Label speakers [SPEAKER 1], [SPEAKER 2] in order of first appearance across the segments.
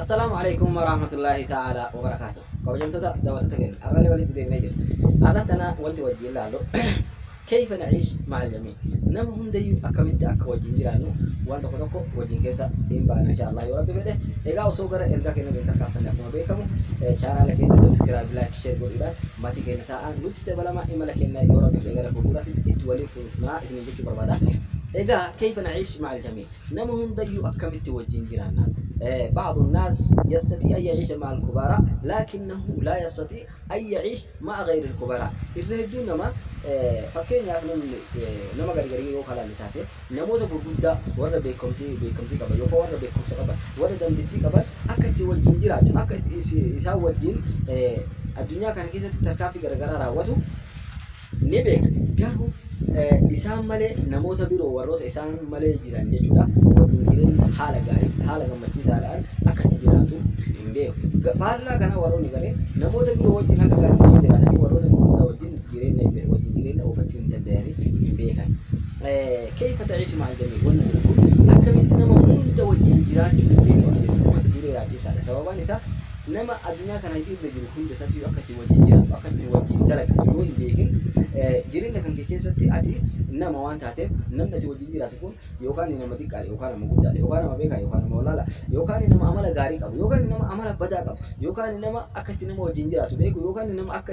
[SPEAKER 1] Assalaamu aleykum waraahmatullaahi ta'aalaa wabarakaatuh. Kabajamtoota daawwattoota keenya har'allee walitti deebinee jirra. Har'a tana wanti wajjin ilaallu keeyfa na'iish ma'al jamii nama hundayyuu akkamitti akka wajjin jiraannu waan tokko tokko wajjin keessa hin baana insha Allah yoo rabbi fedhe. Egaa osoo gara ergaa keenya hin tarkaanfanne akkuma beekamu chaanaala keenya subscribe like share godhuudhaan maatii keenya ta'aa nutti dabalama imala keenya yoo rabbi fedhe gara fuulduraatti itti waliin fuunaa isiniin jechuu barbaada. Egaa kayfa na'iish ma'al jamiic nama hundayyuu akkamitti wajjin jiraanna? Ba'adu naas yastatii an ya'iisha ma'al kubaraa laakinnahu laa yastatii an ya'iish ma'a gayril kubaraa. Irra hedduun namaa fakkeenyaaf namni nama gargarii yoo kalaalle taate namoota gurguddaa warra beekamtii beekamtii qaban yookaan warra beekumsa qaban warra dandettii qaban akka itti wajjin jiraatu akka isaan wajjin addunyaa kana keessatti tarkaanfii garagaraa raawwatu ni beekna, garuu isaan malee namoota biroo warroota isaan malee jiran jechuu dha, wajjin jireenya haala gaariin, haala gammachiisaa dhaan akka itti jiraatu hin beeku. Faallaa kanaa warroonni gariin namoota biroo wajjin akka gaariitti osoo jiraatanii warroota gurguddaa wajjin jireenya, wajjin jireenya oofachuu hin dandayani, hin beekani. Keyfa ta'iishu ma'al jamii'i wanni jedhu kun akkamitti nama hunda wajjin jiraachuu dandeenya wanni jedhu mata duree raaciisaa dha. Sababaan isaa. Nama addunyaa kana irra jiru hunda isaatiyyuu akka itti wajjin jiraattu, akka itti wajjin dalagattu yoo hin beekin, jireenya kan kee keessatti ati nama waan taateef, namni ati wajjin jiraatu kun yookaan nama xiqqaa dha, yookaan nama guddaa dha, yookaan nama beekaa, yookaan nama wallaalaa, yookaan nama amala gaarii qabu, yookaan nama amala badaa qabu, yookaan nama akka itti nama wajjin jiraatu beeku, yookaan nama akka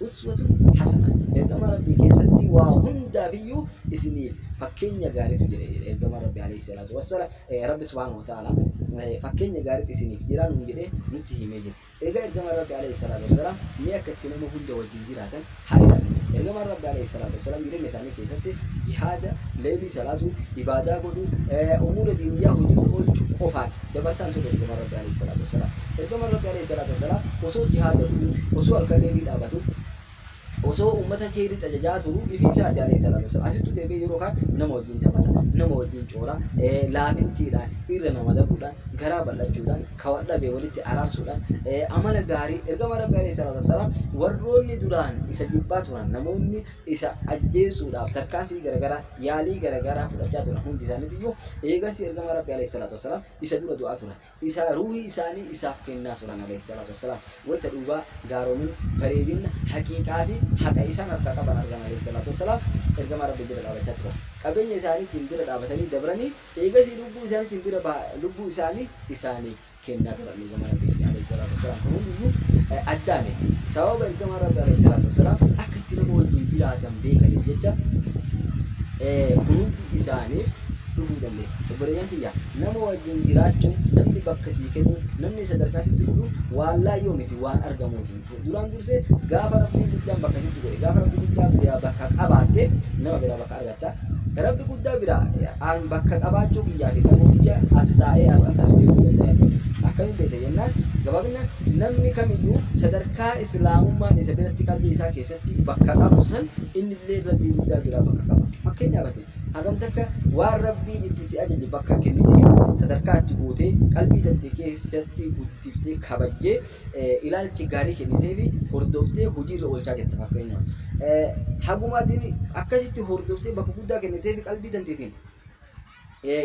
[SPEAKER 1] Uswatun hasanah, Ergamaa Rabbii keessatti waa hundaafiyyuu isiniif fakkeenya gaariitu jira jedhe Ergamaan Rabbii aleyh salaatu wassala Rabbi subhaanahu wa ta'aalaa fakkeenya gaariitu isiniif jira nuun jedhee nutti himee jira. Eegaa Ergamaan Rabbii aleyh salaatu wassalaam mee akka itti nama hunda wajjin jiraatan haa ilaallu. Ergamaan Rabbii aleyh salaatu wassalaam jireenya isaanii. keessatti jihaada, leeylii salaatuu, ibaadaa godhuu, umuura diiniyyaa hojiirra oolchu qofaan dabarsaan turre Ergamaan Rabbii Aleeyhi salaatu wassalaam. Ergamaan Rabbii Aleeyhi salaatu wassalaam osoo jihaada godhuu, osoo halkan leeylii dhaabatu, osoo ummata kheeyritti ajajaa turu ifii isaati Aleeyhi salaatu wassalaam. Asittuu deebi'ee yeroo khaan nama wajjiin taphata, nama wajjiin coora, laafintiidhaan, irra nama dabuudhaan, garaa bal'achuudhaan, kha wal dhabe walitti araarsuudhaan, amala gaarii Ergamaan Rabbii Aleeyhi salaatu wassalaam warroonni duraan isa jibbaa turan, namoonni isa ajjeesuudhaaf tarkaanfii garagaraa, yaalii garagaraa fudhachaa turan hundi isaaniitiyyuu, eegasii Ergamaa Rabbii Aleyh salaatu wassalaam isa dura du'aa turan. Isa ruuhii isaanii isaaf kennaa turan Aleyh salaatu wassalaam. Wayta dhugaa, gaaromina, bareedinna, haqiiqaa fi haqa isaan harkaa qaban argan Aleyh salaatu wassalaam Ergamaa Rabbii bira dhaabachaa turan. Qabeenya isaaniitiin bira dhaabatanii dabranii, eegasii lubbuu isaaniitiin bira bahaa lubbuu isaanii isaaniif. kennaa turan Ergamaan Rabbiitiin Aleeyhi Salaatu Wassalaam kan hundiyyuu addaame sababa Ergamaan Rabbii Aleeyhi Salaatu Wassalaam akka itti nama wajjin jiraatan beekaniif jecha kun hundi isaaniif dhufuu dandeenya obboleeyyan kiyya nama wajjin jiraachuun namni bakka sii kennu namni sadarkaa sitti godhu waan laayyoo miti waan argamuutiin Duraan dursee gaafa Rabbiin guddaan bakka sitti godhe, gaafa Rabbi guddaan biraa bakka qabaatte nama biraa bakka argatta. Rabbi guddaa biraa an bakka qabaachuu kiyyaa fi dhabuu kiyya as taa'ee har'an tana beekuu danda'a jedhe. Akkamiin beekta jennaan gabaabinaan namni kamiyyuu sadarkaa Islaamummaan isa biratti qalbii isaa keessatti bakka qabdu san innillee Rabbii guddaa biraa bakka qaba. Fakkeenyaaf ati hagam takka waan Rabbiin itti si ajaje bakka kennitee sadarkaa itti gootee qalbii tante keessatti guddiftee kabajjee ilaalchi gaarii kenniteefi hordoftee hojiirra oolchaa jirta fakkeenyaaf. Haguma ati akkasitti hordoftee bakka guddaa kenniteefi qalbii tanteetiin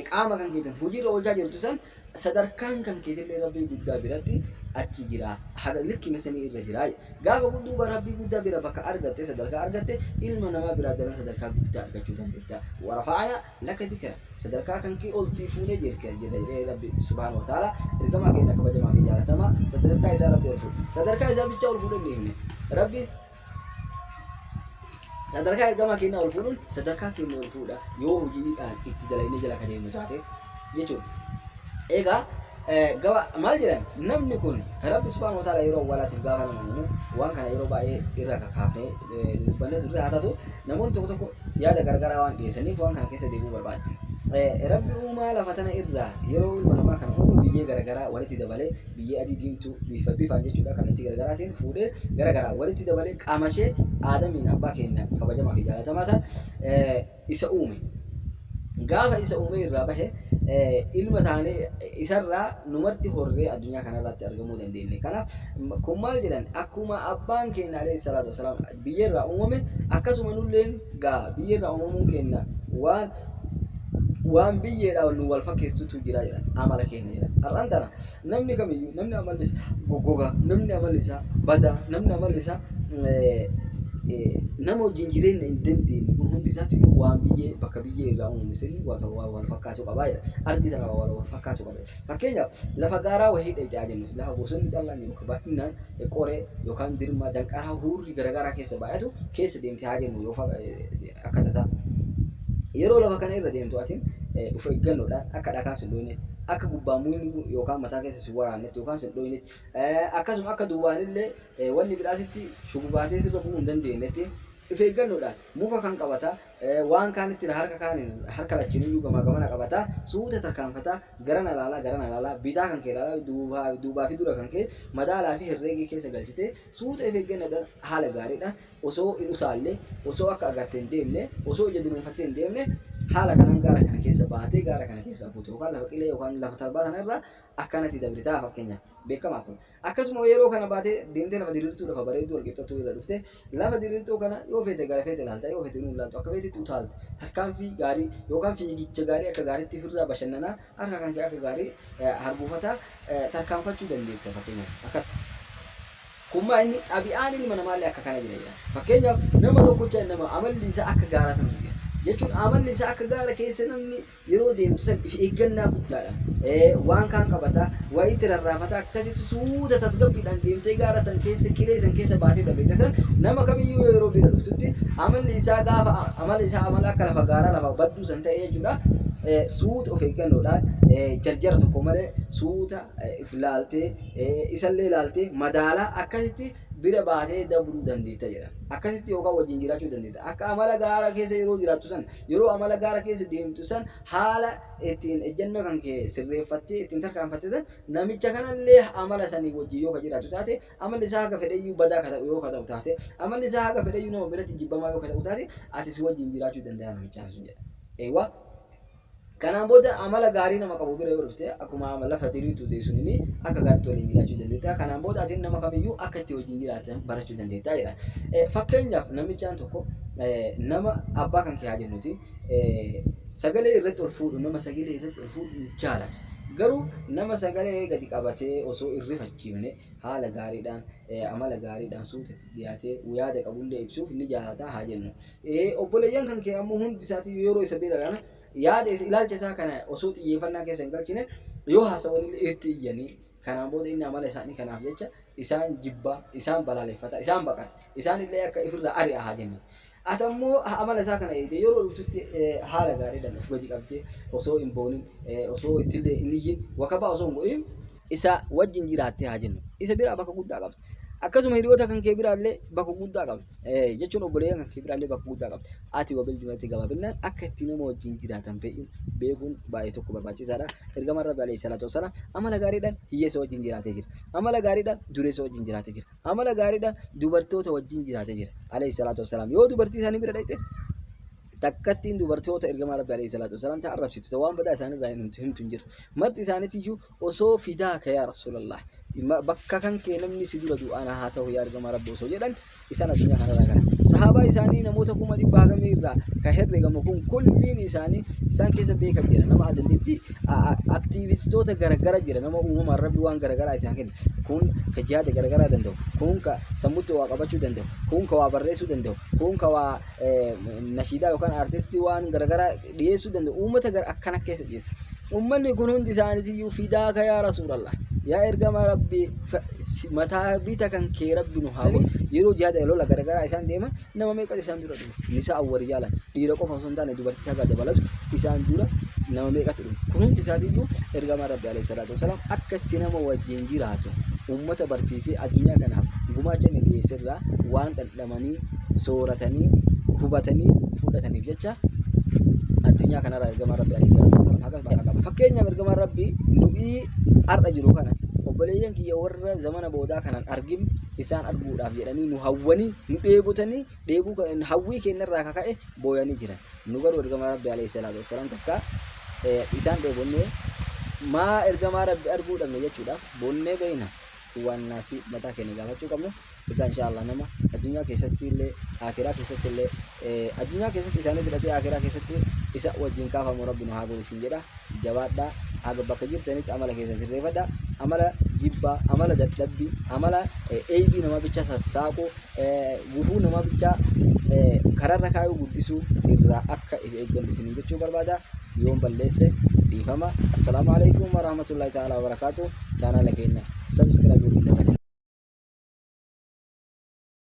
[SPEAKER 1] qaama kan keetiin hojiirra oolchaa jirtu san sadarkaan kan keetillee rabbii guddaa biratti achi jira haga likkima sanii irra jira gaafa gudduuba rabbii guddaa bira bakka argatte sadarkaa argatte ilma namaa biraa dalan sadarkaa guddaa argachuu dandeetta warafa'ana Laka dikira sadarkaa kankee ol sii fuunee jirka jedha jedhee rabbi subhaanahu wa ta'aala ergamaa keenna kabajamaa fi jaalatamaa sadarkaa isaa rabbi ol fuudhe sadarkaa isaa bichaa ol fuudhe hin dhiifne rabbi sadarkaa ergamaa keenna ol fuudhuun sadarkaa keenna ol fuudha yoo hojiidhaan itti dalaynee jala ka deemnu taate jechuudha egaa gaba maal jedhan namni kun rabbi subhaanahu wa ta'aala yeroo awwaalaatiif gaafa nama uumu waan kana yeroo baay'ee irra kakaafnee dubbanne turre haa taatu namoonni tokko tokko yaada gargaraa waan dhiyeessaniif waan kana keessa deebi'uu barbaadu. Rabbi uumaa lafa tana irraa yeroo ilma namaa kana uumu biyyee garagaraa walitti dabalee biyyee adii diimtuu bifa bifaan jechuudha kallattii garagaraatiin fuudhee garagaraa walitti dabalee qaama ishee aadamiin abbaa keenya kabajamaa fi jaalatamaa san isa uume. Gaafa isa uumee irraa bahe ilma taanee isarraa numarti horree addunyaa kanarratti argamuu dandeenye. Kanaaf kun maal jedhan akkuma abbaan keenya alayhi salaatu wasalaam biyya irraa uumame, akkasuma nulleen gaa biyya irraa uumamuun keenna waan waan biyyeedhaa nu wal fakkeessutu jira jedhan. Amala keenna jedhan. Har'aan tana namni kamiyyuu namni amalli isaa goggogaa, namni amalli isaa badaa, namni amalli isaa nama wajjin jireenna hin dandeenye kun hundi isaatiyyuu waan biyyee bakka biyyee irraa uumame saniin wal fakkaachuu qabaa jedhan. Ardii tana wal fakkaachuu qaba jedhan. Fakkeenyaaf, lafa gaaraa wahii dha yaa jennus, lafa bosonni callaan jiru, ka bal'innaan qoree yookaan dirmaa, danqaraa, hurrii garagaraa keessa baay'atu keessa deemte haa jennu yoo akka tasaa. Yeroo lafa kana irra deemtu atin of eeggannoodhaan akka dhakaan si hin dhooyne, akka gubbaan mukni kun yookaan mataa keessa si hin waraannetti yookaan si hin dhooyne, akkasuma akka duwwaan illee wanni biraa sitti shugugaatee sirra bu'uu hin dandeennetti of eeggannoodhaan muka kam qabataa, Waan kaan itti hira harka kaaniin harka lachuun iyyuu gamaa gamana qabata. Suuta tarkaanfata. Garana laala, garana laala. Bitaa kan kee laala, duuba, duubaa fi dura kan kee madaalaa fi herreegee keessa galchitee suuta if eeggannoodhaan haala gaariidhaan osoo hin utaalle, osoo akka agarte hin deemne, osoo ija dunuunfattee hin deemne haala kanaan gaara kana keessa baatee gaara kana keessaa buuta yookaan lafa qilee yookaan lafa tarbaa sana irraa akkanatti dabrita fakkeenyaaf. Beekamaa kun. Akkasuma yeroo kana baate deemtee lafa diriirtuu lafa bareedduu walqixxattuu irra dhufte lafa diriirtuu kana yoo feete gara feete ilaalta yoo feete hin ilaaltu akka feetetti utaalta tarkaanfii gaarii yookaan fiigicha gaarii akka gaariitti firraa bashannanaa harka kan kee akka gaarii harguufataa tarkaanfachuu dandeetta fakkeenyaaf akkas kun maa inni xabi'aan ilma namaallee akka kana jira jedha fakkeenyaaf nama tokkocha nama amalli isaa akka gaaraa ta'utu jira jechuun amalli isaa akka gaara keessa namni Yeroo deemtu san if eeggannaa guddaadhaan waan kaan qabataa, waa itti rarraafataa akkasitti suuta tasgabbiidhaan deemtee gaara san keessa, qilee san keessa baatee dabrita san nama kamiyyuu yoo yeroo bira dhuftutti amalli isaa gaafa amala isaa amala akka lafa gaaraa lafa badduu san ta'e jechuudha. Suuta of eeggannoodhaan jarjara tokko malee suuta if laaltee isallee laaltee madaalaa akkasitti bira baatee dabruu dandeetta jedhan. Akkasitti yookaan wajjin jiraachuu dandeetta. Akka amala gaara keessa yeroo jiraattu san, yeroo amala gaara keessa deemtu san haala ittiin ejjannoo kan kee sirreeffattee ittiin tarkaanfatte san namicha kanallee amala sanii wajjin yoo ka jiraattu taate, amalli isaa haga fedheyyuu badaa ka ta'u yoo ka ta'u taate, amalli isaa haga fedheyyuu nama biratti jibbamaa yoo ka ta'u taate, ati si wajjin jiraachuu danda'a namichaan sun jedhan. Eewwa. Kanaan booda amala gaarii nama qabu bira yoo dhufte akkuma ama lafa diriirtuu ta'e sunini akka gaariitti waliin jiraachuu dandeetta. Kanaan booda atiin nama kamiyyuu akka itti wajjin jiraatan barachuu dandeetta jedha. Eh, Fakkeenyaaf namichaan tokko eh, nama abbaa kan kee haa jennuti eh, sagalee irratti ol fuudhu nama sagalee irratti ol fuudhu hin jaalatu. Garuu nama sagalee gadi qabatee osoo hin rifachiifne haala gaariidhaan eh, amala gaariidhaan suuta itti dhiyaatee yaada qabullee ibsuuf ni jaalata haa jennu. Obboleeyyan kan kee ammoo hundi isaatiyyuu yeroo isa bira ga'an yaada isa, ilaalcha isaa kana osoo xiyyeeffannaa keessa hin galchine yoo haasa'anillee itti iyyanii kanaan booda inni amala isaanii kanaaf jecha isaan jibba, isaan balaaleffata, isaan baqata. Isaanillee akka ifirraa ari'a haa jennuuti. Ati ammoo amala isaa kana eegdee yeroo dhuftutti haala gaariidhaan of gadi qabdee osoo hin boonin, osoo ittillee hin iyyin, wakabaa osoo hin godhin, isa wajjin jiraattee haa jennu. Isa biraa bakka guddaa qabda. Akkasuma hiriyoota kan kee biraallee bakka guddaa qabda. Eh, jechuun obboleeyyan kan kee biraallee bakka guddaa qabda. Ati wabil jumlatti gabaabinaan akka itti nama wajjin jiraatan fedhu beekuun baay'ee tokko barbaachisaadha. Ergamaan Rabbi alayhi salaatu wassalaam amala gaariidhaan hiyyeessa wajjin jiraatee jira. Amala gaariidhaan dureessa wajjin jiraatee jira. Amala gaariidhaan dubartoota wajjin jiraatee jira. Alayhi salaatu wassalaam yoo dubartii isaanii bira dhaqxe takkattiin dubartoota ergamaa rabbi alayhi salaatu wasalaam ta arrabsitu ta waan badaa isaanirraa hin himtu himtu hin jirtu marti isaaniitiyyuu osoo fidaa ka yaa rasuulallah ma- bakka kan kee namni si dura du'aana haa ta'u yaa ergamaa rabbi osoo jedhan isaan addunyaa kanarraa gara sahaabaa isaanii namoota kuma dhibba hagamii irraa ka herregamu kun kulliin isaanii isaan keessa beeka jira nama adandeetti aktiivistoota garagara jira nama uumamaan rabbi waan garagaraa isaan kenna kun ka jihaada garagaraa danda'u kun ka sammutti waa qabachuu danda'u kun ka waa barreessuu danda'u kun ka waa nashiidaa yookaan artistii waan garagaraa dhiyeessuu danda'u uummata gara akkana keessa jira. Uummanni kun hundi isaaniitiyyuu fidaaka yaa rasuulallah yaa ergama rabbii mataa bita kan kee rabbi nu haa godhu yeroo jihaada lola garagaraa isaan deeman nama meeqa isaan dura dhume nisaa awwari jaalan dhiira qofa osoo hin taane dubartii haga dabalatu isaan dura nama meeqatu dhume kun hundi isaatiyyuu ergama rabbi alayhi salaatu wasalaam akka itti nama wajjin jiraatu uummata barsiisee addunyaa kanaaf gumaacha inni dhiyeesserraa waan dhan godhamanii sooratanii hubatanii fudhataniif jecha addunyaa kanarraa ergamaa rabbi alayhi salaatu wasalam haqa bakka qaba fakkeenyaaf ergamaa rabbi nu'ii har'a jiru kana obboleeyyan kiyya warra zamana boodaa kanan argin isaan arguudhaaf jedhanii nu hawwanii nu dheebotanii dheebuu kan- hawwii keenyarraa ka ka'e booyanii jiran nu garuu ergamaa rabbi alayhi salaatu wasalam takka eh, isaan dheebonnee maa ergamaa rabbi arguu dhabne jechuudhaaf boonnee beeyna wanna si mataa keenya gaafachuu qabnu egaa inshaallah nama addunyaa keessatti illee akiraa keessatti illee addunyaa keessatti isaanii fudhatee akiraa keessatti isa wajjin kaafamu rabbi nu haa godhu isin jedha jabaadhaa haga bakka jirtanitti amala keessa sirreeffadha amala jibbaa amala dadhabbii amala eeybii namaa bicha sassaaquu gufuu namaa bichaa karaarra kaayuu guddisuu irraa akka if eeggannu isiniin jechuu barbaada yoon balleesse dhiifama assalaamu alaikum warahmatullahi ta'ala wabarakaatu chaanala keenya sabiskiraabii guddaa